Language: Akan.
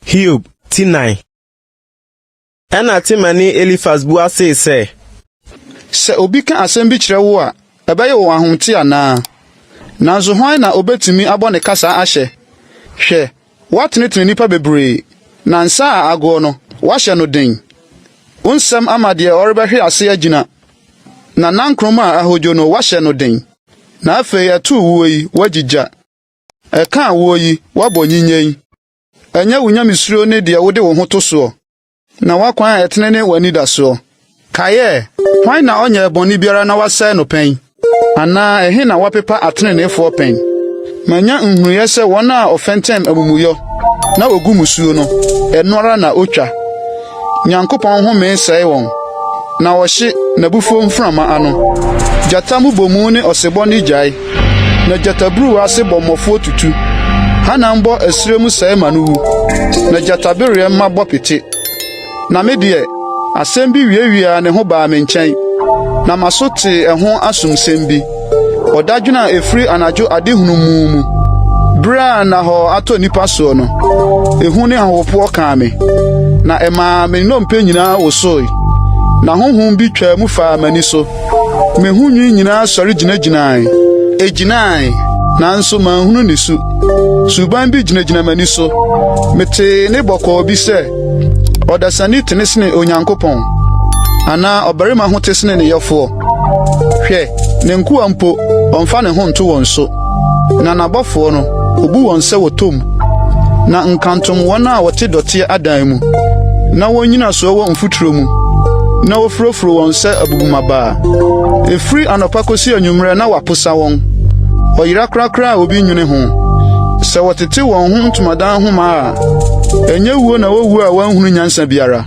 Hiob ti nan. Ɛna Temani Elifas bua see sɛ. Sɛ obi ka asɛm bi kyerɛ wo a, ɛbɛyɛ wo ahomte anaa? Nanso hwan na obetumi abɔ ne kasa ahyɛ? Hwɛ, Woatenetene nnipa bebree, na nsa a agoɔ no, woahyɛ no den. Wo nsɛm ama deɛ ɔrebɛhwe ase agyina, na nankroma a ahodwo no, woahyɛ no den. Na afei ɛtoo woɔ yi, woagye gya. Ɛkaa woɔ yi, woabɔ nyinyɛn. Ɛnyɛ wo nyamesuro ne deɛ wode wo ho to soɔ. Na w'akwan a ɛtene ne w'anidasoɔ. Kaeɛ, Hwan na ɔnyɛɛ bɔne biara na wasɛe no pɛn? Anaa ɛhe na wɔapepa ateneneefoɔ pɛn? Manya nhunuiɛ sɛ wɔn a wɔfɛntɛm amumuyɔ, na wɔgu mmusuo no, ɛno ara na wɔtwa. Nyankopɔn home sɛe wɔn, na ɔhye n'abufuo mframa ano. Gyata mmobɔmu ne ɔsebɔ no gyae. na gyataburuw ase bɔmmɔfo tutu. Hannan bɔ ɛserɛ mu sɛe ma no wu, na gyatabereɛ mma bɔ pete. Na me deɛ, asɛm bi wiawiaa ne ho baa me nkyɛn, na m'aso tee ɛho asomsɛm bi, ɔdadwene a ɛfiri anadwo adehunu mu mu, berɛ a nnahɔɔ atɔ nnipa soɔ no. Ehu ne ahopopoɔ kaa me, na ɛmaa me nnompe nyinaa wosoe, na honhom bi twaa mu faa m'ani so. Me ho nwi nyinaa sɔre gyinagyinae. Egyinae, nanso manhunu ne su. Suban bi gyinagyina m'ani so. Metee ne bɔkɔɔ bi sɛ, Ɔdasani tene sene Onyankopɔn, anaa ɔbarima ho te sene ne yɔfoɔ. Hwɛ, ne nkoa mpo, ɔmfa ne ho nto wɔn so. Na n'abɔfoɔ no, obu wɔn sɛ wɔtɔ mu, na nkantom wɔn a wɔte dɔteɛ adan mu, na wɔn nnyinasoɔ wɔ mfuturo mu, na wɔfurofuro wɔn sɛ abubumabaa. Ɛfiri anɔpa kɔsi anwummerɛ na wɔaposa wɔn, ɔyera korakora a obi nwene ho. Sɛ wɔtete wɔn ho ntomadan nhoma a, ɛnyɛ wuo na wɔwuo a wɔanhunu nyansa biara.